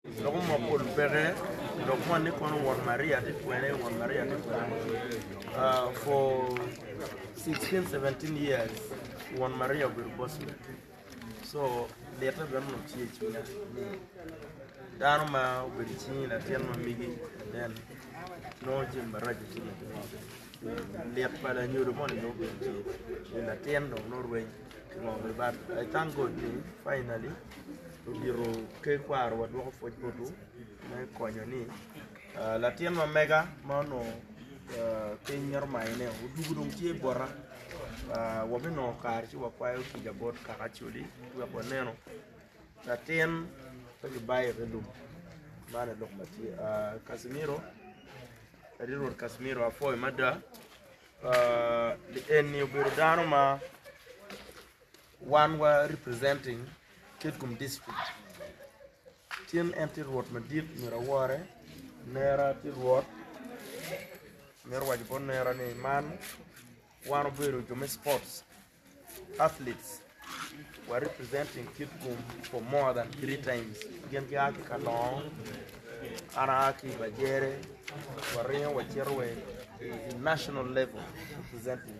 Dok omoko lubeke, dok moni kono won Maria tye twene, won Maria tye twene for sixteen, seventeen years won Maria obedo boss me. So lite bene nongo tye i cwinya ni dano ma obedo i cingi latin ma migi and then nongo jami maraco tye ka timone. Lit pa lanyodo moni nongo bene tye ni latin dong nongo rweny ki ngo bene but I thank God ni finally Odito ter kwarowa dwoko pwoc botu me konyo ni latin ma mega ma onongo piny mito mayone odwogo dong tye bota. Wabinongo kare ci wakwayo kica bot kaka Acoli wek wanenu latin pe kibayone lum. Man aye lok ma tye. Kacimiro, Ati Rwot Kacimiro apwoyi mada. Eni obedo dano ma Wan wa representing Kitgum district Cen en tye rwot madit myero awore nera tye rwot mito waco bot nera ni man wan obedo jo me sports athletes wa representing Kitgum for more than three times gin ki a ki Kalongo an a ki Bajere waringo wacito wa i national level representing